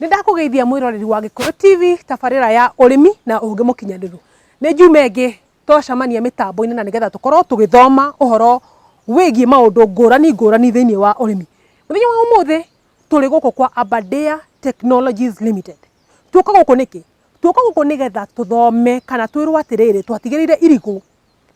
Nĩ ndakũgeithia mwĩroreri wa Gĩkũyũ TV tabarĩra ya ũrĩmi na ũũgĩ mũkinyanĩru. Nĩ njuma ĩngĩ twacemania mĩtambo-inĩ na nĩgetha tũkorwo tũgĩthoma ũhoro wĩgiĩ maũndũ ngũrani ngũrani thĩinĩ wa ũrĩmi. Mũthenya wa ũmũthĩ tũrĩ gũkũ kwa Aberdare Technologies Limited. Tuoka gũkũ nĩkĩ? Tuoka gũkũ nĩgetha tũthome kana twĩrwo atĩrĩrĩ twatigĩrĩire irigũ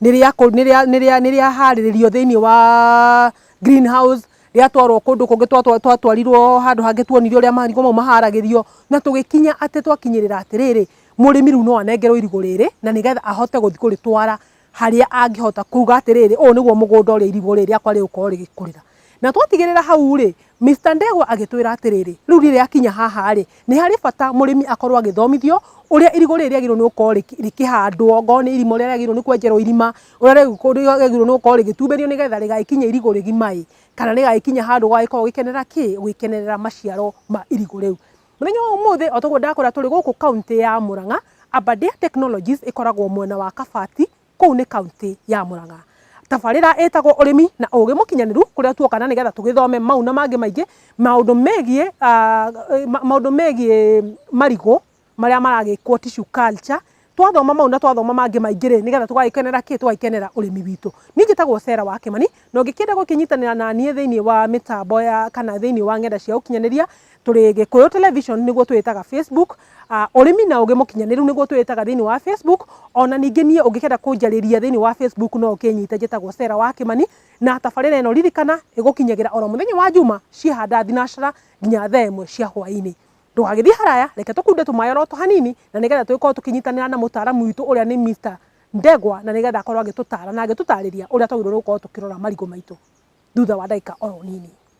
nĩ rĩa kũ- nĩ rĩa- nĩ rĩa- nĩ rĩaharĩrĩrio thĩinĩ wa green house, rĩatwarwo kũndũ kũngĩ twatwa- twatwarirwo handũ hangĩ tuonire ũrĩa marigũ mau maharagĩrio, na tũgĩkinya atĩ twakinyĩrĩra atĩrĩrĩ, mũrĩmi rĩu no anengerwo irigũ rĩrĩ, na nĩgetha ahote gũthiĩ kũrĩtwara harĩa angĩhota kuga atĩrĩrĩ, ũũ nĩguo mũgũnda ũrĩa irigũ rĩrĩ rĩakwa rĩgũkorwo rĩgĩkũrĩra. Na twatigĩrĩra hau-rĩ, Mister Ndegwa agĩtwĩra atĩrĩrĩ, rĩu rĩrĩa akinya haha-rĩ, nĩ harĩ bata mũrĩmi akorwo agĩthomithio ũrĩa irigũ rĩrĩ rĩagĩrĩirwo nĩ gũkorwo rĩkĩhandwo, ongorwo nĩ irima ũrĩa rĩagĩrĩirwo nĩ kwenjerwo irima, ũrĩa rĩagĩrĩirwo nĩ gũkorwo rĩgĩtumbĩrio nĩgetha rĩgagĩkinya irigũ rĩgima-ĩ, kana rĩgagĩkinya handũ ũgagĩkorwo ũgĩkenerera kĩ? Ũgĩkenerera maciaro ma irigũ rĩu. Mũthenya wa ũmũthĩ, o ta ũguo ndakwĩra tũrĩ gũkũ kauntĩ ya Mũrang'a, Aberdare Technologies ĩkoragwo mwena wa Kabati. kũu nĩ kauntĩ ya Mũrang'a. Tabarĩra ĩtagwo ũrĩmi na ũgĩ mũkinyanĩru kũrĩa tuoka na nĩgetha tũgĩthome mau na mangĩ maingĩ maũndũ megiĩ ah, ma- maũndũ megiĩ marigũ marĩa maragĩkwo tissue culture twathoma mau na twathoma mangĩ maingĩ rĩ nĩgetha tũgagĩkenera kĩ tũgagĩkenera ũrĩmi witũ niĩ njĩtagwo Sarah wa Kĩmani na ũngĩkĩenda gũkĩnyitanĩra na niĩ thĩinĩ wa mĩtambo ya kana thĩinĩ wa ng'enda cia ũkinyanĩria Tũrĩ Gĩkũyũ Television nĩguo twĩtaga Facebook, Ũrĩmi na Ũgĩ Mũkinyanĩru nĩguo twĩtaga thĩinĩ wa Facebook, o na ningĩ niĩ ũngĩkenda kũnjarĩria thĩinĩ wa Facebook no ũkĩnyite njĩtagwo Sarah wa Kĩmani, na tabarĩra ĩno ririkana ĩgũkinyagĩra oro mũthenya wa njuma ciehanda thinacara nginya thaa ĩmwe cia hwainĩ. Ndũgagĩthiĩ haraya reke tũkunde tũmaĩ oro tũhanini na nĩgetha tũgĩkorwo tũkĩnyitanĩra na mũtaaramu witũ ũrĩa nĩ Mister Ndegwa na nĩgetha akorwo agĩtũtara na agĩtũtarĩria ũrĩa twagĩrĩirwo nĩ gũkorwo tũkĩrora marigũ maitũ thutha wa ndagĩka oro nini.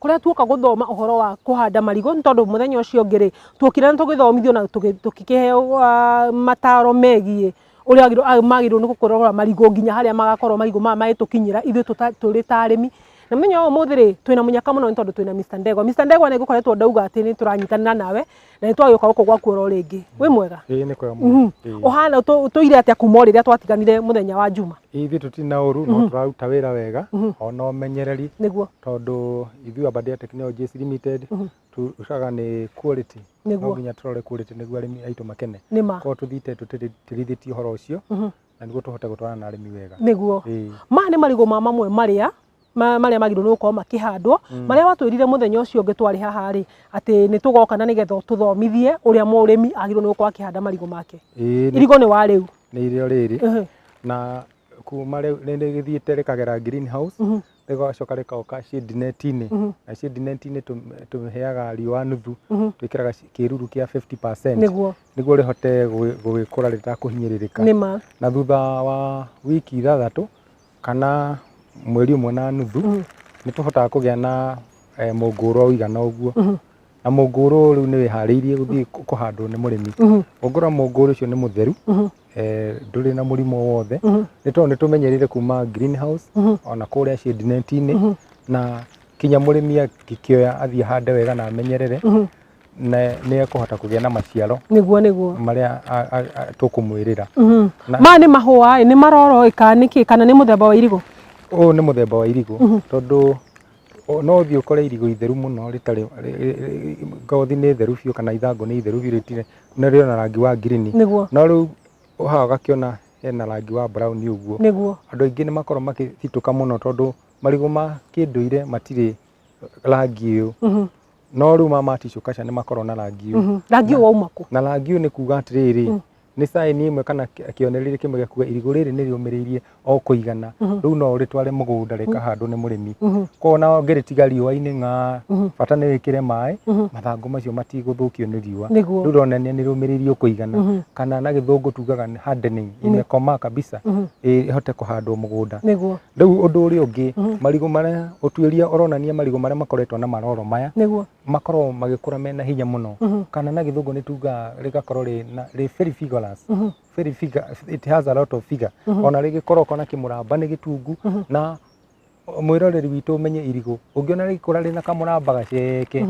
kũrĩa tuoka gũthoma ũhoro wa kũhanda marigũ nĩ tondũ mũthenya ũcio ũngĩ rĩ tuokire na tũgĩthomithio na tũkĩheo mataro megiĩ ũrĩa magĩrĩirwo nĩ gũkorora marigũ nginya harĩa magakorwo marigũ maya magĩtũkinyĩra ithuĩ tũrĩ ta arĩmi. Na mũthenya wa ũmũthĩ rĩ twĩna mũnyaka mũno nĩ tondũ twĩna Mister Ndegwa. Mister Ndegwa nĩ ngũkoretwo ndauga atĩ nĩ tũranyitanĩra nawe na nĩ twagĩũka gũkũ gwaku oro rĩngĩ wĩ mwega ĩĩ nĩ kwega Mhm. mũno Ĩĩ. ũhana ũtũ- ũtũire atĩa kuma o rĩrĩa twatiganire mũthenya wa njuma Ĩĩ, ithuĩ tũtirĩ na ũru no tũraruta wĩra wega ona ũmenyereri nĩguo tondũ ithuĩ Abadi ya Technologies Limited tũcaga nĩ quality no Nĩguo. nginya tũrore quality nĩguo arĩmi aitũ makene nĩ ma korwo tũthiĩte tũtirithĩtie ũhoro ũcio na nĩguo tũhote gũtwarana na arĩmi wega nĩguo Ĩĩ. maya nĩ marigũ ma mamwe marĩa ma- marĩa magĩrĩirwo nĩ gũkorwo makĩhandwo marĩa watwĩrire mũthenya ũcio ũngĩ twarĩ haha rĩ atĩ nĩ tũgoka na nĩgetha ũtũthomithie ũrĩa mũrĩmi agĩrĩirwo nĩ gũkorwo akĩhanda marigũ make Ĩĩ, nĩ- irigũ nĩ wa rĩu nĩ irio rĩrĩ Ehe. na kuma rĩu nĩ rĩgĩthiĩte rĩkagera green house Mhm. rĩgacoka rĩkaoka shade net-inĩ Mhm. na shade net-inĩ tũ- tũheaga riũa nuthu Mhm. twĩkĩraga ci- kĩruru kĩa 50% nĩguo nĩguo rĩhote gũgĩ- gũgĩkũra rĩtakũhinyĩrĩrĩka nĩma na thutha wa wiki ithathatũ kana mweri ũmwe na nuthu mm. nĩ tũhotaga kũgĩa na eh, mũngũrwa ũigana ũguo mm -hmm. na mũngũrũ rĩu nĩ wĩharĩirie gũthiĩ mm-hmm. kũhandwo nĩ mũrĩmi mm-hmm. ũngũra mũngũrũ ũcio nĩ mũtheru mm-hmm. eh, ndũrĩ na mũrimũ wothe nĩ tondũ nĩ tũmenyerire kuma greenhouse ona kũrĩa shade net-inĩ na kinya mũrĩmi akĩkĩoya athiĩ hande wega na amenyerere nĩ ekũhota kũgĩa na maciaro nĩguo nĩguo marĩa tũkũmwĩrĩra mhm. ma nĩ mahũa nĩ maroro ĩka nĩkĩ kana nĩ mũthemba wa irigũ ũyũ nĩ mũthemba wa irigũ mhm. tondũ no thiä å kore irigå itheru må no rä tarä ngothi nä theru biå kana ithangå nä itheru biå rä na rä ona rangi wa ngirini no rä u å haga gakä ona hena rangi wa brown å guo andå aingä nä makorwo makä citå ka må no tondå marigå ma kä ndå ire matirä rangi å yå mhm. No rĩu mama tissue kaca nĩ makorwo na rangi ũyũ. Mhm. Rangi ũyũ wauma kũ? Na rangi ũyũ nĩ kuuga atĩrĩrĩ, Mm. nĩ caĩni ĩmwe kana kĩ- kĩonereria kĩmwe gĩa kuga irigũ rĩrĩ nĩ rĩũmĩrĩirie o kũigana. Mhm. Rĩu no ũrĩtware mũgũnda rĩkahandwo nĩ mũrĩmi. Mhm. Koguo ona ũngĩrĩtiga riũa-inĩ ng'aa, Mhm. bata nĩ wĩkĩre maĩ, Mhm. mathangũ macio matigũthũkio nĩ riũa. Nĩguo. Rĩu ũronania nĩ rĩũmĩrĩirie o kũigana. Mhm. Kana na gĩthũngũ tugaga nĩ hardening, imekoma kabisa, Mhm. ĩ- ĩhote kũhandwo mũgũnda. Nĩguo. Rĩu ũndũ ũrĩa ũngĩ marigũ marĩa ũtuĩria ũronania marigũ marĩa makoretwo na maroro maya nĩguo makorwo magĩkũra mena hinya mũno kana na gĩthũngũ nĩ tuga rĩgakorwo rĩ na rĩ very vigorous very vigor it has a lot of vigor ona rĩgĩkoroko na kĩmũramba nĩ gĩtungu na mwĩroreri witũ ũmenye irigũ ũngĩona rĩgĩkũra rĩna kamũramba gaceke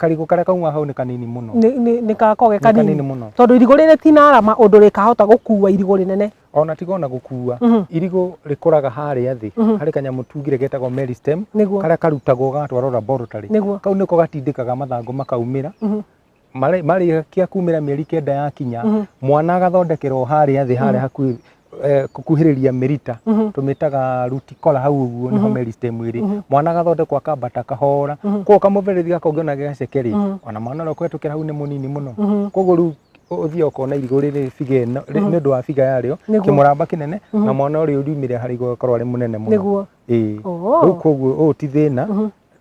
karigũ karĩa kauma hau nĩ kanini mũno nĩ- nĩ- nĩ gakoragwo ge Nĩ kanini kanini mũno. tondũ irigũ rĩrĩ ti na arama ũndũ rĩkahota gũkua irigũ rĩnene ona tiga ona gũkua Mhm. irigũ rĩkũraga harĩa thĩ Mhm. harĩ kanyamũ tungire getagwo Mary stem Nĩguo. karĩa karutagwo gatwarwo laboratory Nĩguo. kau nĩko gatindĩkaga mathangũ makaumĩra Mhm. Marĩ- marĩkia kumĩra mĩeri kenda yakinya Mhm. mwana agathondekerwo harĩa thĩ harĩa hakuhĩ eh, kukuhĩrĩria mĩrita tũmĩtaga ruti kola hau ũguo nĩho meristem ĩrĩ mwana agathondekwo akambata kahora koguo kamũberethi gaka ũngĩona gaceke rĩ ona mwana ũrĩa ũkũhetũkĩra hau nĩ mũnini mũno koguo rĩu ũthiaga ũkona irigũ rĩrĩ biga ĩno rĩ- nĩ ũndũ wa biga yarĩo Nĩguo. kĩmũramba kĩnene na mwana ũrĩa ũriumĩre harĩa igũrũ agakorwo arĩ mũnene mũno nĩguo ĩĩ Oh. rĩu koguo ũũ ti thĩna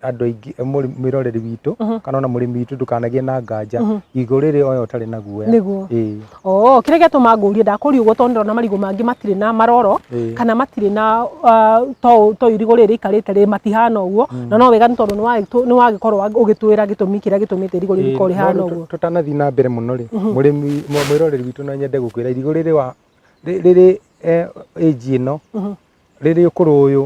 andũ aingĩ mũrĩ- mwĩroreri witũ kana ona mũrĩmi witũ ndũkanagĩe na nganja igũrũ rĩrĩ oya ũtarĩ na guoya Nĩguo. ĩĩ Oo, kĩrĩa gĩatũma ngũrie ndakũria ũguo tondũ ndĩrona marigũ mangĩ matirĩ na maroro Ĩĩ. kana matirĩ na ah, to to irigũ rĩrĩ rĩikarĩte rĩ matihana ũguo na no wega nĩ tondũ nĩwagĩtũ- nĩwagĩkorwo wa- ũgĩtwĩra gĩtũmi kĩrĩa gĩtũmĩte irigũ rĩu rĩkorwo rĩhana No, ũguo tũtanathiĩ na mbere mũno rĩ mũrĩmi mũ- mwĩroreri witũ no nyende gũkwĩra irigũ rĩrĩ wa rĩ- rĩrĩ eh, age ĩno rĩrĩ ũkũrũ ũyũ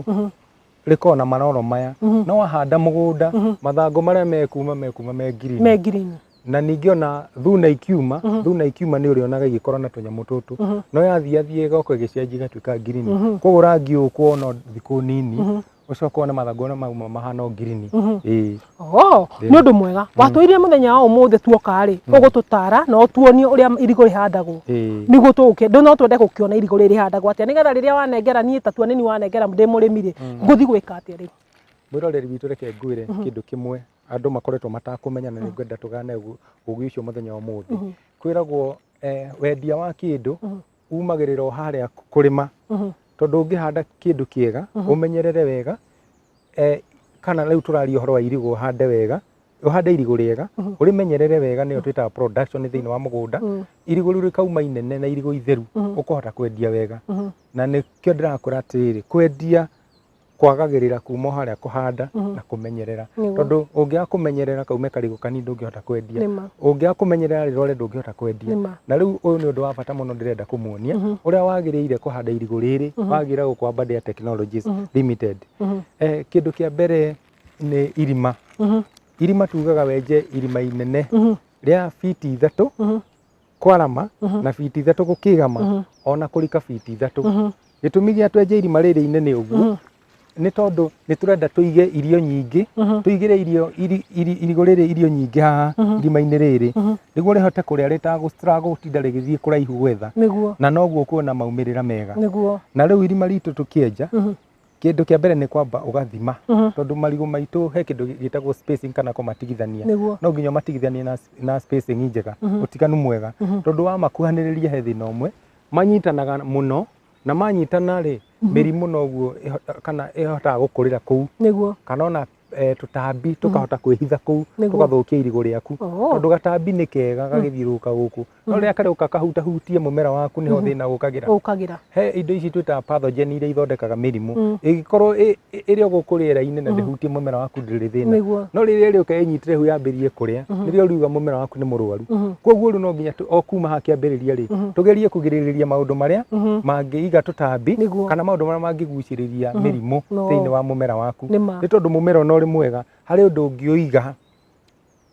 rĩkoragwo na maroro maya no wahanda mũgũnda mathangũ marĩa mekuma mekuma me ngirini me ngirini na ningĩ ona thuna ikiuma thuna ikiuma nĩ ũrĩonaga igĩkorwo na tũnyamũ tũtũ no yathiathiĩ ĩgoka ĩgĩcenjia igatuĩka ngirini koguo rangi ũyũ ũkuona o thikũ nini ũcoke wone mathangũ ona mauma mahana o ngirini ĩĩ Oh, nĩ ũndũ mwega watwĩrire mũthenya wa ũmũthĩ tuoka rĩ ũgũtũtara na ũtuonie ũrĩa irigũ rĩhandagwo Ĩĩ. nĩguo tũgũkĩ ndũ no twende gũkĩona irigũ rĩrĩ rĩhandagwo atĩa nĩgetha rĩrĩa wanengera niĩ tatua nĩ niĩ wanengera ndĩ mũrĩmi rĩ ngũthiĩ gwĩka atĩa rĩu mwĩroreri witũ reke ngwĩre kĩndũ kĩmwe andũ makoretwo matakũmenya na nĩngwenda tũgane ũgu- ũgĩ ũcio mũthenya wa ũmũthĩ kwĩragwo eh, wendia wa kĩndũ umagĩrĩra o harĩa kũrĩma Mhm. tondũ ũngĩhanda kĩndũ kĩega ũmenyerere wega eh, kana rĩu tũraria ũhoro wa irigũ ũhande wega ũhande irigũ rĩega ũrĩmenyerere wega nĩyo twĩtaga production thĩinĩ wa mũgũnda Mhm. irigũ rĩu rĩkauma inene na irigũ itheru ũkũhota kwendia wega Mhm. na nĩkĩo ndĩrakwĩra atĩrĩrĩ kwendia kwagagĩrĩra kuma o harĩa kũhanda Mhm. na kũmenyerera Nĩguo. tondũ ũngĩaga kũmenyerera kaume karigũ kanini ndũngĩhota kwendia Nĩma. ũngĩaga kũmenyerera rĩrore ndũngĩhota kwendia Nĩma. na rĩu ũyũ nĩ ũndũ wa bata mũno ndĩrenda kũmuonia Mhm. ũrĩa wagĩrĩire kũhanda irigũ rĩrĩ Mhm. wagĩrĩire gũkwa Badia Technologies Mhm. Limited Mhm. eh, kĩndũ kĩa mbere nĩ irima Mhm. irima tugaga wenje irima inene Mhm. rĩa fiti ithatũ Mhm. kwarama na biti ithatũ gũkĩgama ona kũrika biti ithatũ gĩtũmi gĩa twenje irima rĩrĩ inene ũguo nĩ tondũ nĩ tũrenda tũige irio nyingĩ tũigĩre irio iri- iri- irigũ rĩrĩ irio nyingĩ haha irima-inĩ rĩrĩ nĩguo rĩhote kũrĩa rĩtagũ- rĩtagũtinda rĩgĩthiĩ kũraihu gwetha nĩguo na noguo kuona maumĩrĩra mega nĩguo na rĩu irima ritũ tũkĩenja kĩndũ kĩa mbere nĩ kwamba ũgathima Mhm. tondũ marigũ maitũ he kĩndũ gĩtagwo spacing kana kũmatigithania Nĩguo. no nginya ũmatigithanie na, na spacing njega Mhm. ũtiganu mwega Mhm. tondũ wamakuhanĩrĩria he thĩna ũmwe manyitanaga mũno na manyitana rĩ mĩrimũ noguo ĩhota- kana ĩhotaga gũkũrĩra kũu Nĩguo. kana ona eh, tũtambi tũkahota kwĩhitha kũu Nĩguo. tũgathũkia irigũ rĩaku Oh. tondũ gatambi nĩ kega gagĩthiũrũrũka gũkũ no rĩrĩa karĩũka kahutahutie mũmera waku nĩho thĩna ũkagĩra ũkagĩra he indo ici twĩtaga pathogen iria ithondekaga mĩrimũ Mm. ĩgĩkorwo ĩ- ĩ- ĩrĩ o gũkũ rĩera-inĩ na ndĩhutie mũmera waku ndĩrĩ thĩna nĩguo no rĩrĩa rĩũka ĩnyitire hu yambĩrĩrie kũrĩa nĩrĩo ũriuga mũmera waku nĩ mũrwaru Mhm. koguo rĩu no nginya tũ- o kuma ha kĩambĩrĩria rĩ Mhm. tũgerie kũgirĩrĩria maũndũ marĩa Mhm. mangĩiga tũtambi Nĩguo. kana maũndũ marĩa mangĩgucĩrĩria mĩrimũ No. thĩinĩ wa mũmera waku Nĩ ma. nĩ tondũ mũmera ona ũrĩ mwega harĩ ũndũ ũngĩũiga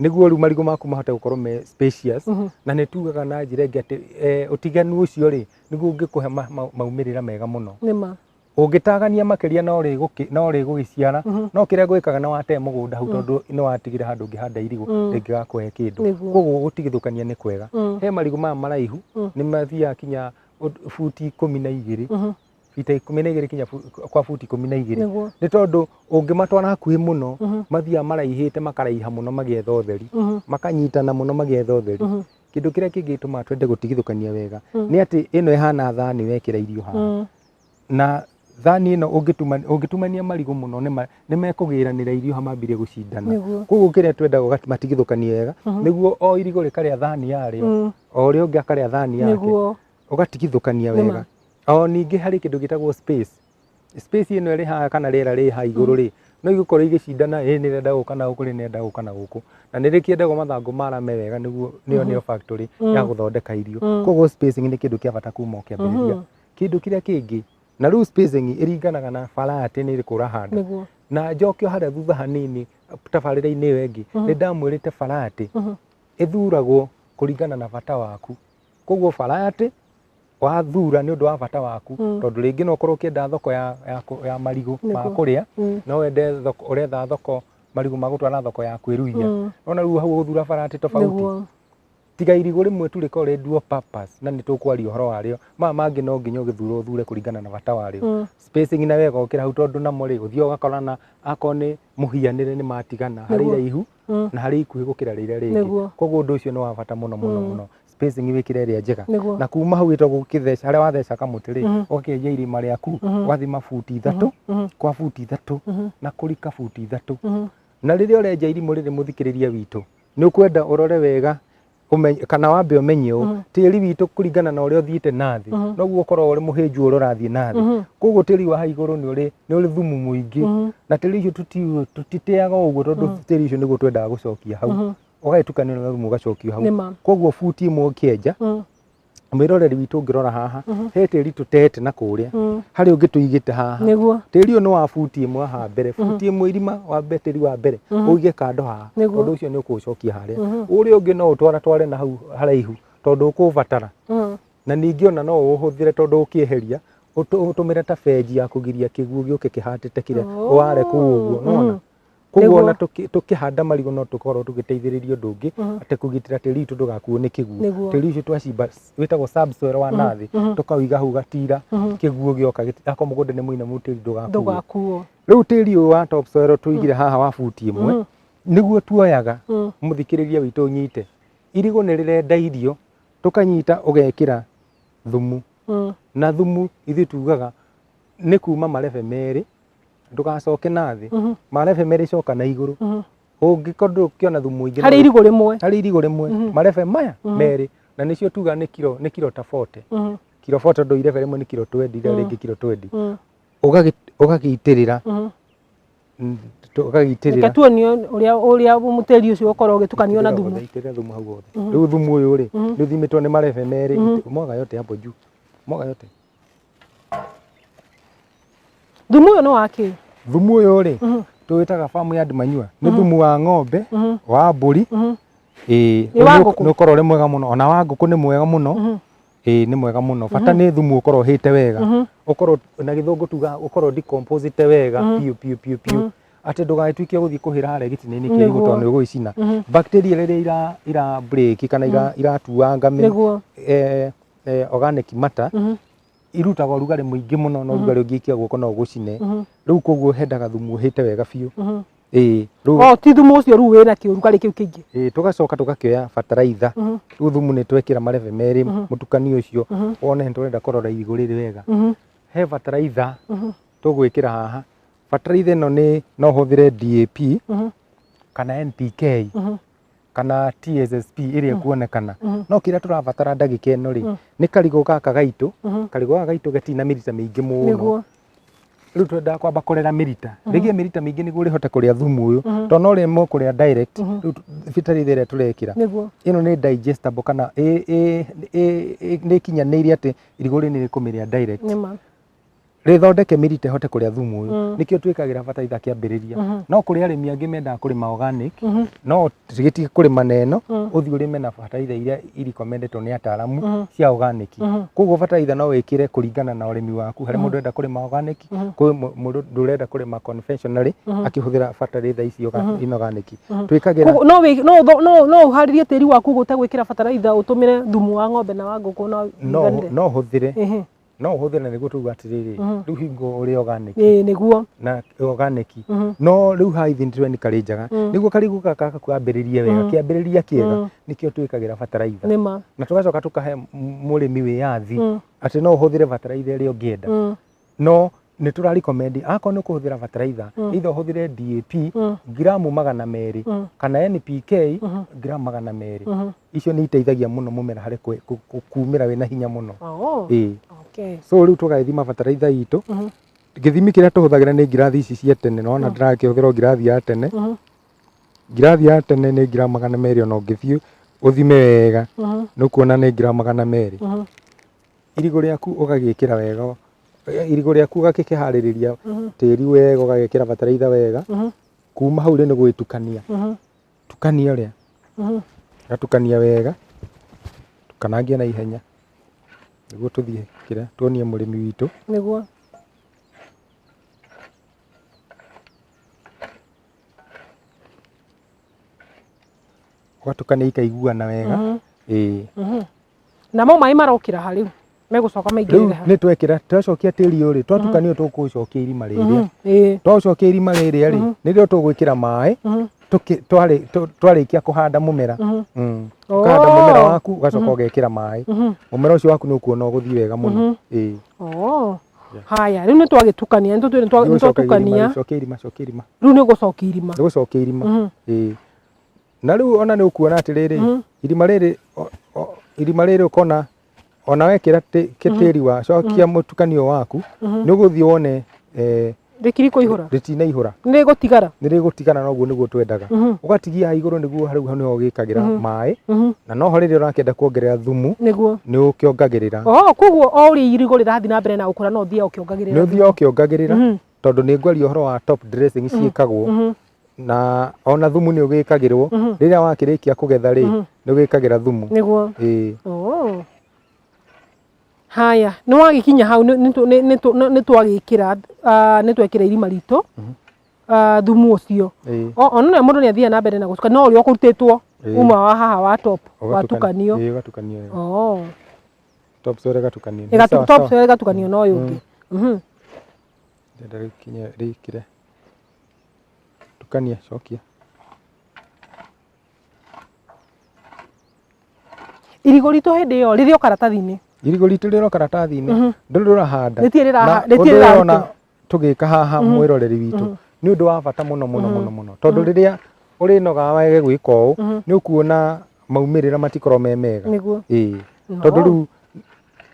nĩguo rĩu marigũ maku mahote gũkorwo me spacious Mhm. na nĩ tugaga na njĩra ĩngĩ atĩ eh, ũtiganu ũcio rĩ nĩguo ũngĩkũhe ma- ma- maumĩrĩra mega mũno nĩma ũngĩtagania makĩria no rĩgũkĩ- no rĩgũgĩciara Mhm. no kĩrĩa gwĩkaga nĩ watee mũgũnda hau tondũ nĩ watigire handũ ũngĩhanda irigũ Mm. rĩngĩgakũhe kĩndũ Nĩguo. koguo gũtigithũkania nĩ kwega Mm. he marigũ maya maraihu Mm. nĩ mathiaga kinya ũd- buti ikũmi na igĩrĩ Mhm. ita ikũmi na igĩrĩ kinya fu- kwa buti ikũmi na igĩrĩ nĩguo nĩ tondũ ũngĩmatwara hakuhĩ mũno Mhm. mathiaga maraihĩte makaraiha mũno magĩetha ũtheri Mhm. makanyitana mũno magĩetha ũtheri Mhm. kĩndũ kĩrĩa kĩngĩtũma twende gũtigithũkania wega Mm. nĩ atĩ ĩno ĩhana thani wekĩra irio haha Mm. na thani ĩno ũngĩtuma- ũngĩtumania marigũ mũno nĩ ma- nĩ mekũgĩranĩra irio ha mambire gũcindana nĩguo koguo kĩrĩa twendaga ũga- matigithũkanie wega Mhm. nĩguo o irigũ rĩkarĩa thani yarĩo Mm. o ũrĩa ũngĩ akarĩa thani yake nĩguo ũgatigithũkania Nĩma. wega o ningĩ harĩ kĩndũ gĩtagwo space space ĩno ĩrĩ haha kana rĩera rĩ haha igũrũ rĩ no igũkorwo igĩcindana ĩ nĩ rĩenda gũka na gũkũ rĩ nĩrenda gũka na gũkũ na nĩ rĩkĩendagwo mathangũ marame wega nĩguo nĩyo nĩyo factory ya gũthondeka irio Mhm. koguo spacing nĩ kĩndũ kĩa bata kuma ũkĩambĩrĩria Mhm. kĩndũ kĩrĩa kĩngĩ na rĩu spacing ĩringanaga na bara atĩ nĩ ĩrĩkũ ũrahanda nĩguo na njoke o harĩa thutha hanini tabarĩra-inĩ ĩyo ĩngĩ nĩ ndamwĩrĩte bara atĩ Mhm. ĩthuragwo kũringana na bata waku koguo barati wathura nĩ ũndũ wa bata waku Mm. tondũ rĩngĩ no ũkorwo ũkĩenda thoko ya, ya, kũ- ya marigũ ma Nĩguo. kũrĩa Mm. no wende thoko ũretha thoko marigũ ma gũtwara thoko ya kwĩruhia Mm. nona rĩu hau ũgũthura barati tofauti Nĩguo. tiga irigũ rĩmwe tu rĩkorwo rĩ dual purpose na nĩ tũkwaria ũhoro warĩo maya mangĩ no nginya ũgĩthura ũthure kũringana na bata warĩo Mm. spacing na wega ũkĩra hau tondũ namo rĩ ũthiaga ũgakorana akorwo nĩ mũhianĩre nĩ matigana harĩ Nĩguo. iraihu Mm. na harĩ ikuhĩ gũkĩra rĩrĩa rĩngĩ Nĩguo. koguo ũndũ ũcio nĩ wa bata mũno mũno Mm. mũno spacing wĩkĩre ĩrĩa njega Nĩguo. na kuma hau ĩtagwo gũkĩtheca harĩa watheca kamũtĩ rĩ Mhm. ũgakĩenja irima rĩaku Mhm. ũgathima buti ithatũ Mhm. kwa buti ithatũ Mhm. na kũrika buti ithatũ Mhm. na rĩrĩa ũrenja irimũ rĩrĩ mũthikĩrĩria witũ nĩ ũkwenda ũrore wega ũmenye kana wambe ũmenye ũũ Mhm. tĩri witũ kũringana na ũrĩa ũthiĩte na thĩ Mhm. noguo ũkoragwo ũrĩ mũhĩnju ũrĩa ũrathiĩ na thĩ Mhm. koguo tĩri wa haigũrũ nĩ ũrĩ nĩ ũrĩ thumu mũingĩ Mhm. na tĩri ũcio tũti- tũtiteaga o ũguo tondũ tĩri ũcio nĩguo twendaga gũcokia hau Mhm. ũgagĩtukanio na thumu ũgacokio hau nĩ ma koguo buti ĩmwe ũkĩenja Mhm. mwĩroreri witũ ũngĩrora haha he tĩri tũtete na kũrĩa Mm. harĩ ũngĩ tũigĩte haha Nĩguo. tĩri ũyũ nĩ wa buti ĩmwe haha mbere buti ĩmwe irima wa mbe- tĩri wa mbere ũige kando haha Nĩguo. ũndũ ũcio nĩ ũkũũcokia harĩa ũrĩa ũngĩ no ũtwara tware na hau haraihu tondũ ũkũũbatara Mm. na ningĩ ona no ũũhũthĩre tondũ ũkĩeheria ũtũ- ũtũmĩre ta benji ya kũgiria kĩguũ gĩũke kĩhatĩte kĩrĩa ware kũu ũguo nona koguo Nĩguo. ona tũkĩ- tũkĩhanda marigũ no tũkorwo tũgĩteithĩrĩria ũndũ ũngĩ Mhm. atĩ kũgitĩra tĩri witũ ndũgakuo nĩ kĩguo Nĩguo. tĩri ũcio twacimba wĩtagwo subsoil wa nathĩ mhm. tũkauiga hau gatira Mhm. kĩguo gĩoka gĩti- akorwo mũgũnda nĩ mũinamu tĩri ndũgakuo ndũgakuo rĩu tĩri ũyũ wa topsoil tũigire haha wa buti ĩmwe Mhm. nĩguo tuoyaga Mm. mũthikĩrĩria witũ ũnyite irigũ nĩ rĩrenda irio tũkanyita ũgekĩra thumu Mm. na thumu ithuĩ tugaga nĩ kuma marebe merĩ ndũgacoke na thĩ Mhm. marebe merĩ coka na igũrũ Mhm. ũngĩkorwo ndũkĩona thumu mũingĩ harĩ no- irigũ rĩmwe harĩ irigũ rĩmwe Mhm. marebe maya Mhm. merĩ na nĩcio tuga nĩ kiro nĩ kiro ta 40 Mhm. kiro 40 ndũ irebe rĩmwe nĩ kiro 20 irĩa Mhm. rĩngĩ kiro 20 Mhm. Ũgagĩ- ũgagĩitĩrĩra Mhm. mm, tũ- reke ũgagĩitĩrĩra tuonie ũrĩa ũrĩa mũtĩri ũcio ũkorwo ũgĩtukanio na Itĩrĩra thumu wothe, itĩrĩra thumu hau wothe Mhm. rĩu thumu ũyũ rĩ Mhm. nĩ ũthimĩtwo nĩ marebe merĩ Mhm. moga yote hapo juu moga yote thumu ũyũ nĩ wa kĩ thumu ũyũ rĩ Mhm. tũwĩtaga farm yard manure nĩ thumu wa ng'ombe Mhm. wa mbũri Mhm. ĩĩ Nĩ wa ngũkũ? nĩ ũkorwo ũrĩ mwega mũno ona wa ngũkũ nĩ mwega mũno Mhm. ĩĩ nĩ mwega mũno bata nĩ thumu ũkorwo ũhĩte wega Mhm. ũkorwo na gĩthũngũ tuga ũkorwo decomposite wega piũ piũ piũ piũ atĩ ndũgagĩtuĩke gũthiĩ kũhĩra harĩa gĩtina-inĩ kĩrĩgũ Nĩguo. tondũ nĩ ũgũgĩcina bacteria rĩrĩa ira ira break kana ira iratuanga mĩ- nĩguo eh, eh, organic matter Mhm. irutaga ũrugarĩ mũingĩ mũno na ũrugarĩ ũngĩikia guoko no ũgũcine Mhm. rĩu koguo hendaga thumu ũhĩte wega biũ Mhm. ĩĩ rĩu Oh, ti thumu ũcio rĩu wĩna kĩ ũrugarĩ kĩu kĩingĩ. ĩĩ, tũgacoka tũgakĩoya bataraitha Mhm. rĩu thumu nĩ twekĩra marebe merĩ Mhm. mũtukanio ũcio Mhm. wone nĩ tũrenda kũrora irigũ rĩrĩ wega Mhm. he bataraitha Mhm. tũgwĩkĩra haha bataraitha ĩno nĩ no hũthĩre DAP Mhm. kana NPK Mhm. kana TSSP ĩrĩa ĩkuonekana Mhm. no kĩrĩa tũrabatara ndagĩka ĩno rĩ Mm. nĩ karigũ gaka gaitũ Mhm. karigũ gaka gaitũ gatirĩ na mĩrita mĩingĩ mũno nĩguo rĩu twendaga kwamba kũrera mĩrita rĩgĩe mĩrita mĩingĩ nĩguo rĩhote kũrĩa thumu ũyũ Mhm. tondũ no rĩmwe kũrĩa direct Mhm. rĩu tu- bataraitha ĩrĩa tũrekĩra nĩguo ĩno nĩ digestible kana ĩ- ĩ- ĩ- ĩ- nĩ ĩkinyanĩire atĩ irigũ rĩu nĩ rĩkũmĩrĩa direct nĩma rĩthondeke mĩrita ĩhote kũrĩa thumu ũyũ mm. nĩkĩo twĩkagĩra bataraitha kĩambĩrĩria mm-hmm. no kũrĩ arĩmi angĩ mendaga kũrĩma organic mm-hmm. no gĩtige kũrĩma na ĩno mm. ũthiĩ ũrĩme na bataraitha iria irikondetwo nĩ ataramu mm-hmm. cia organic koguo bataraitha no wĩkĩre kũringana na ũrĩmi waku harĩ mũndũ enda kũrĩma organic kwĩ mũndũ ndũrenda kũrĩma conventionally akĩhũthĩra bataraitha ici inorganic twĩkagĩra no ũharĩrie tĩri waku gũtegwĩkĩra bataraitha ũtũmĩre thumu wa ng'ombe na wa ngũkũ no ũhũthĩre no ũhũthĩre nĩguo tuga atĩrĩrĩ Mhm. rĩu hingo ũrĩ organic ĩĩ nĩguo na organic Mhm. no rĩu haha ithiĩ nĩtũreni karĩ njega Mm. nĩguo karigũ gaka gaka kwambĩrĩrie wega Mm. kĩambĩrĩria kĩega Mm. nĩkĩo twĩkagĩra bataraitha nĩ ma na tũgacoka tũkahe m- mũrĩmi wĩyathi Mm. atĩ no ũhũthĩre bataraitha ĩrĩa ũngĩenda Mm. no nĩ tũra recommend akorwo nĩ kũhũthĩra bataraitha Mm. either ũhũthĩre DAP Mm. gramu magana merĩ Mm. kana NPK Mhm. gramu magana merĩ Mhm. icio nĩ iteithagia mũno mũmera harĩ kwe- ku- ku- kumĩra wĩna hinya mũno Oh, ĩĩ okay. so rĩu tũgagĩthima bataraitha itũ Mhm. gĩthimi kĩrĩa tũhũthagĩra nĩ ngirathi ici cia tene nona Mm. ndĩrakĩhũthĩra o ngirathi ya tene Mhm. ngirathi ya tene nĩ gramu magana merĩ ona ũngĩthiĩ ũthime wega Mhm. nĩ ũkuona nĩ gramu magana merĩ Mhm. irigũ rĩaku ũgagĩkĩra wega irigũ rĩaku ũgakĩharĩrĩria tĩri wega ũgagĩkĩra bataraitha wega kuma hau rĩ nĩ gũgĩtukania tukania ũrĩa gatukania wega tukanangie na ihenya nĩguo tũthiĩ kĩrĩa tuonie mũrĩmi witũ nĩguo ũgatukania ikaiguana wega ĩĩ namo maĩ marokĩra ha rĩu megũcoka maingĩrĩre ha nĩ twekĩra twacokia tĩri ũrĩ twatukania tũkũcokia irima rĩrĩ mhm, eh. twacokia irima rĩrĩ rĩ mhm. nĩrĩo tũgwĩkĩra maĩ mhm. twarĩkia kũhanda mũmera mm. mm. oh. kũhanda mũmera waku ũgacoka ũgekĩra maĩ mũmera ũcio waku nĩ ũkuona ũgũthiĩ wega mũno eh. oh. haya rä u nä twagä tukania nä twatukania rä u nä gå cokia irima nä gå cokia irima na rĩu ona nĩ ũkuona atĩrĩrĩ Mhm. irima rĩrĩ o- o- irima rĩrĩ ũkona ona wekĩra tĩ- kĩ- tĩri wa cokia mũtukanio waku nĩ ũgũthiĩ wone eh, rĩkiri kũihũra rĩtinaihũra nĩ gũtigara nĩ rĩgũtigana noguo nĩguo twendaga Mhm. ũgatigia haha igũrũ nĩguo harĩu hau nĩho ũgĩkagĩra maĩ Mhm. na noho rĩrĩa ũrakĩenda kuongerera thumu nĩguo nĩ ũkĩongagĩrĩra o koguo o ũrĩa irigũ rĩrathiĩ na mbere na gũkũra no ũthiaga nĩ ũkĩongagĩrĩra ũthiaga ũkĩongagĩrĩra Mhm. tondũ nĩ ngwaria ũhoro wa top dressing ciĩkagwo na ona thumu nĩ ũgĩkagĩrwo rĩrĩa wakĩrĩkia kũgetha rĩ nĩ ũgĩkagĩra thumu nĩguo ĩĩ Oh. haya nä wagäkinya hau nä twagäkira nä twekira irima ritå ah, thumu å cio ĩĩ ona nä må ndå nä athiaga na mbere na gå tukania no å rä a å kå rutä two Ĩĩ. uma wa haha wa top ũgatukan- watukanio ĩĩ, ũgatukanio ĩĩ. Oh. Top soil ĩgatukanio. Ĩgatu- Sawa, top sawa. soil ĩgatukanio na ũyũ ũngĩ Mhm. Ndenda rĩkinye rĩkire. Tukania cokia. irigũ ritũ hĩndĩ ĩyo rĩrĩ o karatathi-inĩ Irigũ ritũ rĩro karatathi-inĩ. Ndũrĩ rũrahanda. Rĩtirĩ rĩraha- Na rĩtirĩ ũndũ ũyũ rĩrarutwo. ona tũgĩka haha Mhm. mwĩroreri witũ Mhm. nĩ ũndũ wa bata mũno mũno Mhm. mũno mũno tondũ Mhm. rĩrĩa ũrĩnoga wage gwĩka ũũ Mhm. nĩ ũkuona maumĩrĩra matikorwo me mega nĩguo ĩĩ No. tondũ rĩu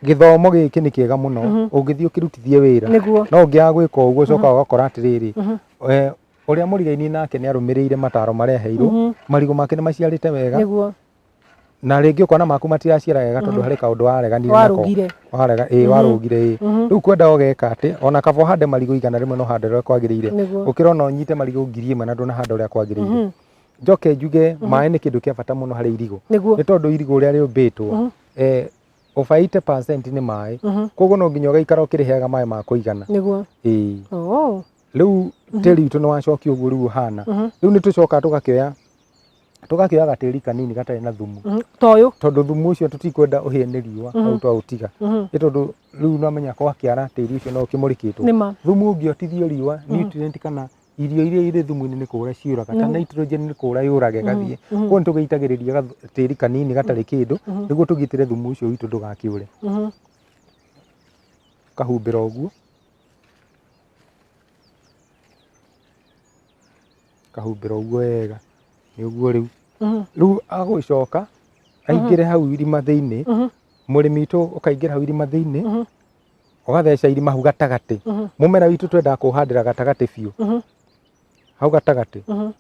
gĩthomo gĩkĩ nĩ kĩega mũno Mhm. ũngĩthiĩ ũkĩrutithie wĩra nĩguo no ũngĩaga gwĩka ũguo ũcoka ũgakora atĩrĩrĩ Mhm. eh, ũrĩa mũrigainie nake nĩ arũmĩrĩire mataro marĩa aheirwo Mhm. marigũ make nĩ maciarĩte wega nĩguo na rĩngĩ ũkona maku matiraciara wega tondũ harĩ kaũndũ wareganire nako Warũgire. warega ĩĩ warũgire ĩĩ rĩu kwenda ũgeka atĩ ona kaba ũhande marigũ igana rĩmwe no hande ũrĩa kwagĩrĩire Nĩguo. ũkĩra ona ũnyite marigũ ngiri ĩmwe na ndũnahanda ũrĩa kwagĩrĩire njoke njuge maĩ nĩ kĩndũ kĩa bata mũno harĩ irigũ Nĩguo. nĩ tondũ irigũ ũrĩa rĩũmbĩtwo eh, over 80% nĩ maĩ koguo no nginya ũgaikara ũkĩrĩheaga maĩ ma kũigana nĩguo ĩĩ oh. rĩu tĩri witũ nĩ wacokio ũguo rĩu ũhana rĩu nĩ tũcokaga tũgakĩoya tũgakĩoya gatĩri kanini gatarĩ na thumu Mhm, ta ũyũ tondũ thumu ũcio tũtikwenda ũhĩe nĩ riũa Mhm. hau twaũtiga Mhm, nĩ tondũ rĩu namenya gwakĩara tĩri ũcio no ũkĩmũrĩkĩtwo nĩ ma thumu ũngĩotithio riũa Mhm. nutrient kana irio iria irĩ thumu-inĩ nĩ kũra ciũraga ta Mhm. nitrogen nĩ kũra yũrage gathiĩ Mhm, koguo nĩ tũgĩitagĩrĩria gath- tĩri kanini gatarĩ kĩndũ mhm, nĩguo tũgitĩre thumu ũcio witũ ndũgakĩũre mhm. kahumbĩra ũguo akahumbĩra ũguo wega nĩ ũguo rĩu Mhm. rĩu agũgĩcoka aingĩre hau irima thĩinĩ Mhm. mũrĩmi witũ ũkaingĩra hau irima thĩinĩ Mhm. ũgatheca irima hau gatagatĩ Mhm. mũmera witũ twendaga kũhandĩra gatagatĩ biũ Mhm. hau gatagatĩ Mhm.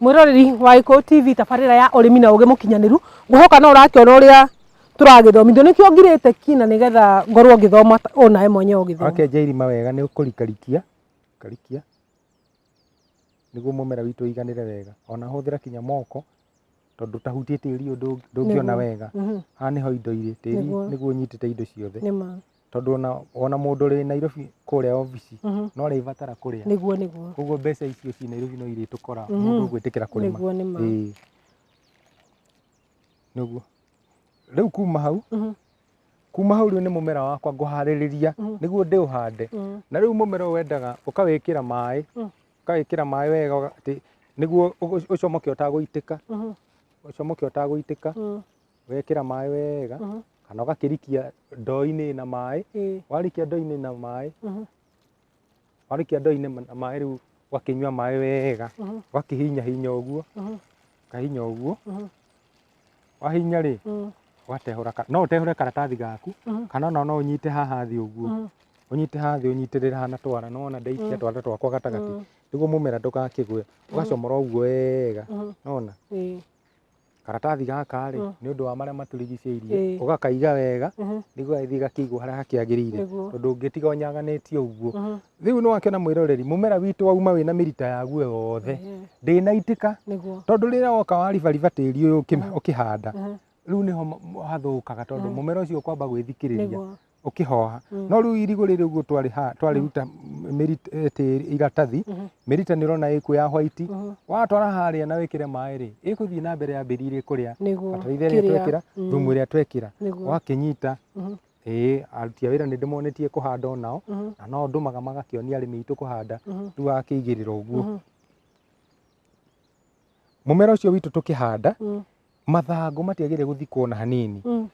mwĩroreri wa Gĩkũyũ TV tabarĩra ya ũrĩmi na ũgĩ mũkinyanĩru ngũhoka no ũrakĩona ũrĩa tũragĩthomithio nĩkĩo ngirĩte ki na nĩgetha ngorwo ngĩthoma o nawe mwenyewe ũgĩthoma wakenja irima wega nĩ ũkũrikarikia karikia nĩguo mũmera witũ ũiganĩre wega ona hũthĩra kinya moko tondũ tahutie tĩri ũndũ ndũngĩona wega mhm. haha nĩho indo irĩ tĩri nĩguo ũnyitĩte indo ciothe tondũ ona, ona mũndũ ũrĩ Nairobi kũrĩa obici Mhm. no arĩbatara kũrĩa nĩguo nĩguo koguo mbeca icio ciĩ Nairobi no irĩtũkora Mhm. mũndũ gwĩtĩkĩra kũrĩma nĩguo nĩ ma Ĩĩ. nĩguo rĩu kuma hau Mhm. kuma hau rĩu nĩ mũmera wakwa ngũharĩrĩria Mhm. nĩguo ndĩũhande Mm. na rĩu mũmera ũyũ wendaga ũkawĩkĩra maĩ Mm. ũkawĩkĩra maĩ wega ũga- atĩ nĩguo ũgũ- ũcomoke ũtagũitĩka Mhm. ũcomoke ũtagũitĩka Mm. wekĩra maĩ wega Mhm. kana ũgakĩrikia ndoo-inĩ na maĩ Ĩĩ. warĩkia ndoo-inĩ na maĩ Mhm. warĩkia ndoo-inĩ ma- na maĩ rĩu ũgakĩnyua maĩ wega Mhm. ũgakĩhinya hinya ũguo Mhm. kahinya ũguo Mhm. wahinya rĩ Mm. ũgatehũra ka- no ũtehũre karatathi gaku Mhm. kana ona no ũnyite haha thĩ ũguo Mhm. ũnyite haha thĩ ũnyitĩrĩre hana twara no wona ndaikia Mm. twara twakwa gatagatĩ Mm. nĩguo mũmera ndũgakĩgwe ũgacomora ũguo wega Mhm. nona Ĩĩ. karatathi gaka rĩ Mm. nĩ ũndũ wa marĩa matũrigicĩirie Ĩĩ. ũgakaiga wega Mhm. nĩguo gagĩthiĩ gakĩigwo harĩa hakĩagĩrĩire Nĩguo. tondũ ũngĩtiga ũnyaganĩtie ũguo Mhm. rĩu nĩ wakĩona mwĩroreri mũmera witũ wauma wĩna mĩrita yaguo yothe Ĩĩ. ndĩnaitĩka Nĩguo. tondũ rĩrĩa woka waribariba tĩri ũyũ ũkĩ- ũkĩhanda Mhm. rĩu nĩho m- hathũkaga tondũ mũmera ũcio ũkwamba gwĩthikĩrĩria Nĩguo. ũkĩhoha Mm. no rĩu irigũ rĩrĩ ũguo twarĩha- twarĩruta mĩrit- eh, tĩri- iratathi Mhm. mĩrita nĩ ũrona ĩkuo ya white Mhm. watwara harĩa na wĩkĩre maĩ rĩ ĩgũthiĩ na mbere yambĩrĩirie kũrĩa nĩguo bataraitha ĩrĩa kĩrĩa- twekĩra Mm. thumu ĩrĩa twekĩra nĩguo wakĩnyita Mhm. ĩĩ aruti a wĩra nĩ ndĩmonetie kũhanda o nao Mhm. na no ndũmaga magakĩonia arĩmi aitũ kũhanda Mhm. rĩu wakĩigĩrĩra ũguo Mhm. mũmera ũcio witũ tũkĩhanda Mm. mathangũ matiagĩrĩire gũthikwo na hanini Mm.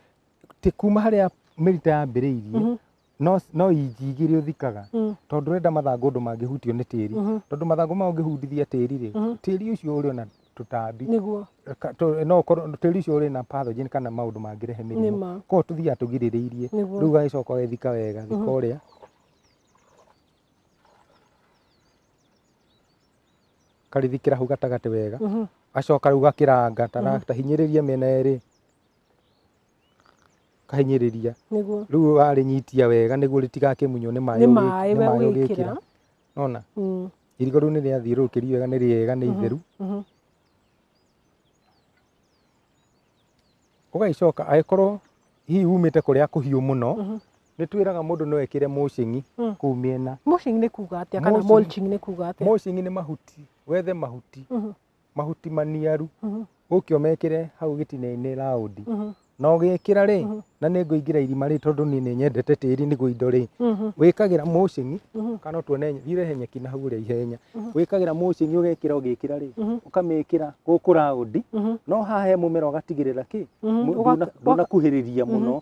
ti kuma harĩa mĩrita yambĩrĩirie Mhm. no no inji ingĩ iria ũthikaga Mm. tondũ ũrenda mathangũ ũndũ mangĩhutio nĩ tĩri Mhm. tondũ mathangũ mao ũngĩhutithia tĩri rĩ Mhm. tĩri ũcio ũrĩ na tũtambi nĩguo Ka- tũ- no ũkorwo tĩri ũcio ũrĩ na pathogen kana maũndũ mangĩrehe nĩ mĩrimũ ma koguo tũthiaga tũgirĩrĩirie rĩu nĩguo ũgagĩcoka ũgethika wega thika Mhm. ũrĩa karĩthikĩra hau gatagatĩ wega Mhm. gacoka rĩu gakĩranga tara- tahinyĩrĩria mĩena ĩrĩ kahinyĩrĩria nĩguo rĩu warĩnyitia wega nĩguo rĩtigakĩmunywo nĩ maĩ nĩ ũgĩ- maĩ nĩ we maĩ ũgĩkĩra ũgĩkĩra nona Mm, irigũ rĩu nĩ rĩathiũrũrũkĩrio wega nĩ rĩega nĩ itheru mhm. ũgagĩcoka agĩkorwo hihi umĩte kũrĩa kũhiũ mũno Mhm. nĩ twĩraga mũndũ no ekĩre mũcĩng'i Mm. kũu mĩena mulching nĩ kuga atĩa kana Mulching. mulching nĩ kuga atĩa mũcĩng'i nĩ mahuti wethe mahuti Mhm. mahuti maniaru Mhm. gũkĩ ũmekĩre hau gĩtina-inĩ raundi Mhm. na ũgĩkĩra rĩ Mhm. na nĩ ngũingĩra irima rĩ tondũ niĩ nĩ nyendete tĩri nĩguo indo rĩ Mhm. wĩkagĩra mũcĩng'i Mhm. kana tuone irehe nyeki na hau ũrĩa ihenya Mhm. wĩkagĩra mũcĩng'i ũgekĩra ũgĩkĩra rĩ Mhm. ũkamĩkĩra gũkũ raundi Mhm. no haha he mũmera ũgatigĩrĩra kĩ Mhm. mu- Ũga- ndũna- ũga- ndũnakuhĩrĩria Mhm. mũno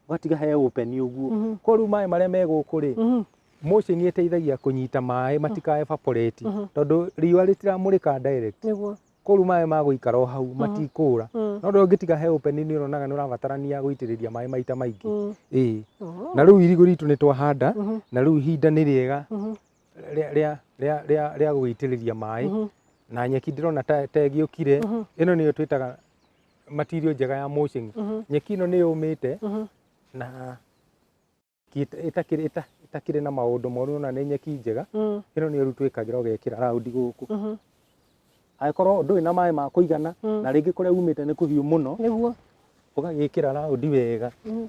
ũgatiga he open ũguo Mhm. kwa rĩu maĩ marĩa me gũkũ rĩ Mhm. motion nĩ ĩteithagia kũnyita maĩ matikae evaporate Mhm. tondũ riũa rĩtiramũrĩka direct nĩguo kwa rĩu maĩ magũikara o hau matikũra Mm. no rĩu ũngĩtiga he open nĩ ũronaga nĩ ũrabatarania gũitĩrĩria maĩ maita maingĩ Mm. ĩĩ Oh. na rĩu irigũ ritũ nĩ twahanda Mhm. na rĩu ihinda nĩ rĩega Mhm. rĩa- rĩa- rĩa- rĩa- rĩa gũgĩitĩrĩria maĩ Mhm. na nyeki ndĩrona ta ta ĩgĩũkire Mhm. ĩno nĩyo twĩtaga material njega ya mulching Mhm. nyeki ĩno nĩ yũmĩte Mhm. na ki- ĩta- ĩtakĩrĩ ĩta- ĩtakĩrĩ na maũndũ moru ona nĩ nyeki njega Mm. ĩno nĩ ũrutwĩkagĩra ũgekĩra raundi gũkũ Mhm. angĩkorwo ndũrĩ na maĩ ma kũigana Mm. na rĩngĩ kũrĩa umĩte nĩ kũhiũ mũno nĩguo ũgagĩkĩra raundi wega Mhm.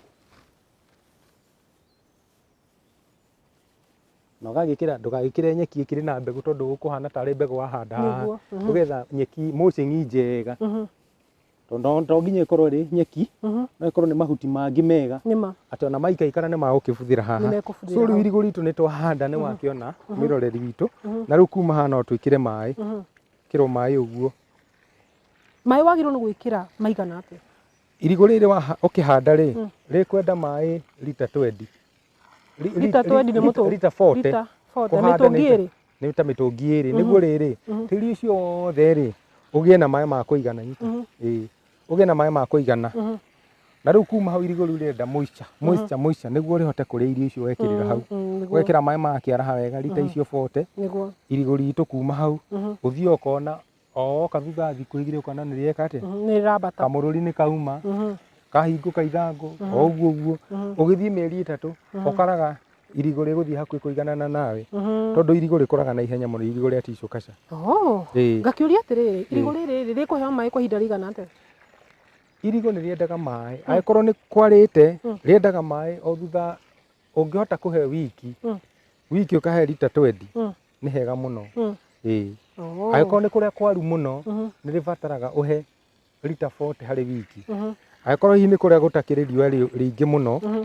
na ũgagĩkĩra ndũgagĩkĩre nyeki ĩkĩrĩ na mbegũ tondũ ũkũhana tarĩ mbegũ wahanda haha Nĩguo, mhm. ũgetha nyeki mulching njega Mhm, tondũ no- to nginya ĩkorwo ĩrĩ nyeki mhm. no ĩkorwo nĩ mahuti mangĩ mega nĩ ma atĩ ona maikaikara nĩ magũkĩbuthĩra haha Nĩmekũbuthĩra so rĩu hau. irigũ ritũ nĩ twahanda nĩ wakĩona mĩroreri witũ na rĩu kuma haha no twĩkĩre maĩ Mhm. kĩrwo maĩ ũguo maĩ wagĩrĩirwo nĩ gwĩkĩra maigana atĩa Irigũ rĩrĩ waha- ũkĩhanda rĩ Mm. rĩkwenda maĩ lita 20 Ri- ri- Lita ri- 20 nĩ lita- mũtũ- lita 40 lita 40, Kũhanda mĩtũngi nĩ- ĩrĩ? nĩ ta mĩtũngi ĩrĩ nĩguo rĩrĩ Mhm. tĩri ũcio wothe rĩ ũgĩe na maĩ ma kũigana nyita Mhm. ĩĩ ũgĩe na maĩ ma kũigana Mhm. na rĩu kuma hau irigũ rĩu rĩrenda moisture moisture moisture nĩguo rĩhote kũrĩa irio icio wekĩrĩra hau Mm, mm, nĩguo, wekĩra maĩ makĩaraha wega rita icio 40 nĩguo. irigũ ritũ kuma hau Mhm. ũthiĩ ũkona o woka thutha wa thikũ igĩrĩ ũkona nĩ rĩeka atĩa Mhm, nĩ rambata kamũrũri nĩ kauma Mhm, kahingũka ithangũ Mhm. o ũguo ũguo mhm, ũgĩthiĩ mĩeri ĩtatũ Mhm. ũkaraga irigũ rĩgũthiĩ hakuhĩ kũiganana nawe mhm. tondũ irigũ rĩkũraga na ihenya mũno irigũ rĩa tico kaca Oh, Ĩĩ. ngakĩũria atĩrĩrĩ irigũ rĩrĩ rĩ rĩkũheo maĩ kwa ihinda rĩigana atĩa irigũ nĩ rĩendaga maĩ angĩkorwo nĩ kwarĩte Mm. rĩendaga maĩ o thutha ũngĩhota kũhe wiki Mm. wiki ũkahe rita twendi Mm. nĩ hega mũno Mm. ĩĩ Oo. angĩkorwo nĩ kũrĩa kwaru mũno Mhm, nĩ rĩbataraga ũhe rita 40 harĩ wiki mhm, angĩkorwo hihi nĩ kũrĩa gũtakĩrĩ riũa rĩ- rĩingĩ mũno mhm.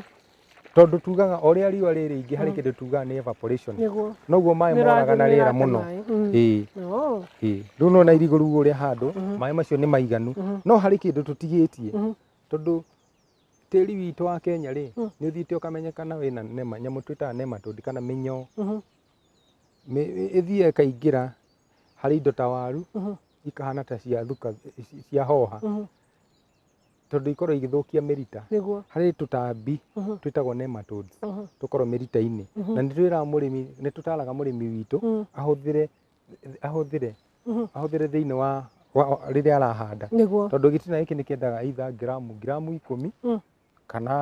tondũ tugaga o rĩa riũa rĩ rĩingĩ harĩ Mm. kĩndũ tugaga nĩ evaporation Nĩguo. noguo maĩ Nĩ moraga na rĩathimĩra rĩera atĩ mũno maĩ. Mm. ĩĩ Oo. ĩĩ rĩu nona irigũ rĩu ũrĩa handũ Mhm. maĩ macio nĩ maiganu Mhm, no harĩ kĩndũ tũtigĩtie mhm. tondũ tĩri witũ wa Kenya rĩ Mm. nĩ ũthiĩte ũkamenyekana wĩna nema nyamũ twĩtaga nematode kana mĩnyoo Mhm. Nĩ- ĩthiaga ĩkaingĩra harĩ indo ta waru ikahana ta cia thuka ci- cia hoha tondũ ikorwo igĩthũkia mĩrita nĩguo harĩ tũtambi twĩtagwo nematodes tũkorwo mĩrita-inĩ na nĩ twĩraga mũrĩmi nĩ tũtaraga mũrĩmi witũ ahũthĩre ahũthĩre ahũthĩre thĩinĩ wa wa- rĩrĩa arahanda nĩguo tondũ gĩtina gĩkĩ nĩ kĩendaga either gramu gramu ikũmi kana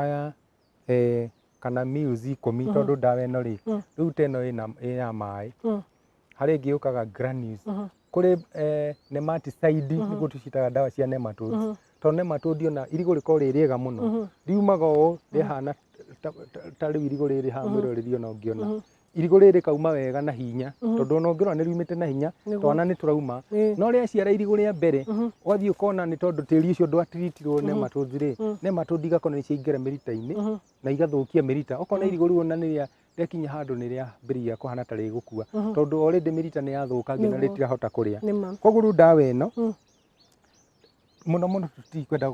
eh, kana meals ikũmi tondũ ndawa ĩno rĩ rĩu ta ĩno ĩna- ĩ ya maĩ harĩ ĩngĩ yũkaga granules kũrĩ eh, nematicide nĩguo tũcitaga ndawa cia nematodes tondũ nematode ona irigũ rĩkorwo rĩ rĩega mũno riumaga ũũ rĩhana ta- ta- ta rĩu irigũ rĩrĩ haha mwĩroreri ona ũngĩona irigũ rĩrĩ kauma wega na hinya Mhm. tondũ ona ũngĩrora nĩ riumĩte na hinya Nĩguo. twana nĩ tũrauma Ĩĩ. no rĩaciara irigũ rĩa mbere Mhm. wathiĩ ũkona nĩ tondũ tĩri ũcio ndwatiritirwo nĩ Mhm. matũthi rĩ Mhm. nĩ matũthi igakona nĩ ciaingĩra mĩrita-inĩ Mhm. na igathũkia mĩrita ũkona Mhm. irigũ rĩu ona nĩ rĩa rĩakinya handũ nĩ rĩambĩrĩria kũhana ta rĩgũkua Mhm. tondũ already mĩrita nĩ yathũkangio na Nĩguo. rĩtirahota kũrĩa nĩ ma koguo rĩu ndawa ĩno Mm. mũno mũno tũtikwenda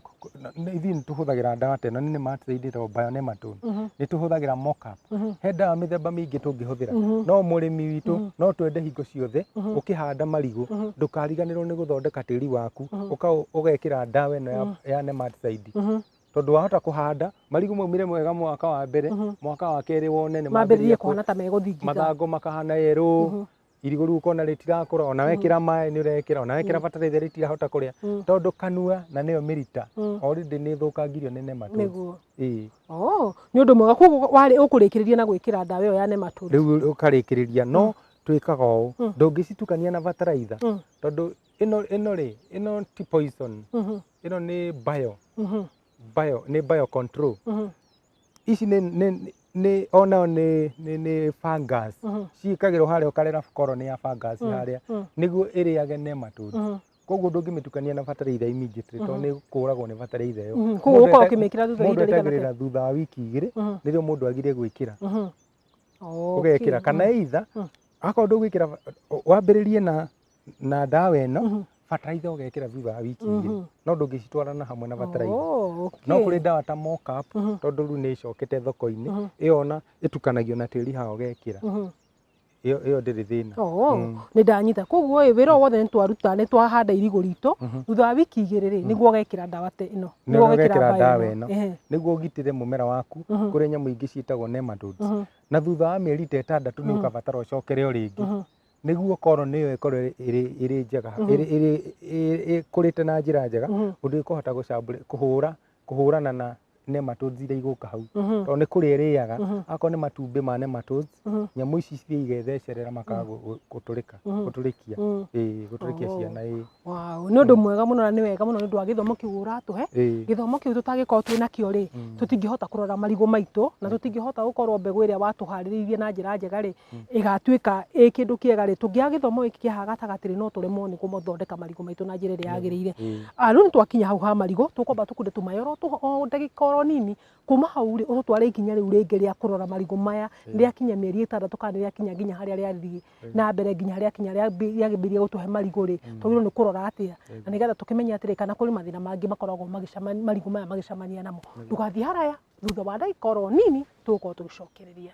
ithuĩ nĩ tũhũthagĩra ndawa ta ĩno nĩ ma tũraindĩra bionematol nĩ tũhũthagĩra mockup he ndawa mĩthemba mĩingĩ tũngĩhũthĩra no mũrĩmi witũ no twende hingo ciothe ũkĩhanda marigũ ndũkariganĩrwo nĩ gũthondeka tĩri waku ũka- ũgekĩra ndawa ĩno ya- ya nematicide tondũ wahota kũhanda marigũ maumĩre mwega mwaka wa mbere mwaka wa kerĩ wone nĩ mambĩrĩrie mambĩrĩria kũ- kuhana ta megũthingitha mathangũ makahana yerũ irigũ rĩu ũkona rĩtirakũra ona wekĩra maĩ nĩ ũrekĩra ona wekĩra bataraitha rĩtirahota kũrĩa tondũ kanua na nĩyo mĩrita already nĩ ĩthũkangirio nĩ nematode nĩguo ĩĩ oh nĩ ũndũ mwega koguo warĩ ũkũrĩkĩrĩria na gwĩkĩra ndawa ĩyo ya nematode rĩu ũkarĩkĩrĩria no twĩkaga ũũ ndũngĩcitukania na bataraitha Mm. tondũ ĩno ĩno rĩ ĩno ti poison Mhm, ĩno nĩ bio mhm, bio nĩ bio control mhm, ici nĩ nĩ nĩ onayo nĩ nĩ nĩ fungus Mhm. ciĩkagĩrwo harĩa ũkarera korwo nĩ ya fungus Mm, harĩa mm. nĩguo ĩrĩage ne matunda Mhm. koguo ndũngĩmĩtukania na bataraitha immediately tondũ nĩ kũragwo nĩ bataraitha ĩyo Mhm. Koguo Mũndũ ũkorwo eta- ũkĩmĩkĩra thutha wa mũndũ ihinda rĩigana atĩa? etagĩrĩra thutha wa wiki igĩrĩ Mhm. nĩrĩo mũndũ agire gwĩkĩra Mhm. ũgekĩra Okay. kana either Mm. akorwo ndũgwĩkĩra wambĩrĩrie na na ndawa ĩno Mhm. bataraitha ũgekĩra thutha wa wiki igĩrĩ Mhm. no ndũngĩcitwarana hamwe na bataraitha Oh, okay. no kũrĩ ndawa ta mocap Mhm. tondũ rĩu nĩ ĩcokete thoko-inĩ Mhm. ĩyo ona ĩtukanagio na tĩri haha ũgekĩra Mhm. ĩyo ĩyo ndĩrĩ thĩna Oo, Mm. nĩ ndanyita koguo ĩ wĩra o wothe nĩ twaruta nĩ twahanda irigũ ritũ Mhm. thutha wa wiki igĩrĩ rĩ nĩguo ũgekĩra ndawa te ĩno Nĩguo ũgekĩra ndawa ĩno. Ehe. nĩguo ũgitĩre mũmera waku Mhm. kũrĩ nyamũ ingĩ ciĩtagwo nematodes Mhm. na thutha wa mĩeri ta ĩtandatũ nĩ Mhm. ũkabatara ũcokere o rĩngĩ Mhm. nĩguo koroni ĩyo ĩkorwo ĩrĩ- ĩrĩ- ĩrĩ njega Mhm. ĩrĩ- ĩrĩ- ĩrĩ- ĩkũrĩte na njĩra njega Mhm. ũndũ ĩkũhota gũcambũrĩ kũhũra kũhũrana na nematodes iria igũka hau Mhm. tondũ nĩ kũrĩa ĩrĩaga Mhm. akorwo nĩ matumbĩ ma nematodes Mhm. nyamũ ici cithiĩ igethecerera makaga gũ- gũ- gũtũrĩka Mhm. gũtũrĩkia Mhm. ĩĩ gũtũrĩkia Oh. ciana ĩĩ Wow, nĩ ũndũ mwega mũno na nĩ wega mũno nĩ ũndũ wa gĩthomo kĩu ũratũhe. Ĩĩ. Gĩthomo kĩu tũtangĩkorwo twĩ nakĩo rĩ, tũtingĩhota kũrora marigũ maitũ na tũtingĩhota gũkorwo mbegũ ĩrĩa watũharĩrĩirie na njĩra njega rĩ, ĩgatuĩka ĩ kĩndũ kĩega rĩ, tũngĩaga gĩthomo gĩkĩ kĩa haha gatagatĩ rĩ, no tũremwo nĩ gũthondeka marigũ maitũ na njĩra ĩrĩa yagĩrĩire. Ah, Rĩu nĩ twakinya hau ha marigũ, tũkwamba tũkunde tũmaĩ oro tũ- o ndagĩka oro nini, kuma hau rĩ, ũtũtware ikinya rĩu rĩngĩ rĩa kũrora marigũ maya rĩakinya mĩeri ĩtandatũ kana rĩakinya nginya harĩa rĩathiĩ na mbere nginya harĩa kinya rĩa mbi- rĩagĩmbĩirie gũtũhe marigũ rĩ twagĩrĩirwo nĩ kũrora atĩa na nĩgetha tũkĩmenye atĩrĩ kana kũrĩ mathĩna mangĩ makoragwo magĩcemania marigũ maya magĩcemania namo ndũgathiĩ haraya thutha wa ndagĩka oro nini tũgũkorwo tũgĩcokereria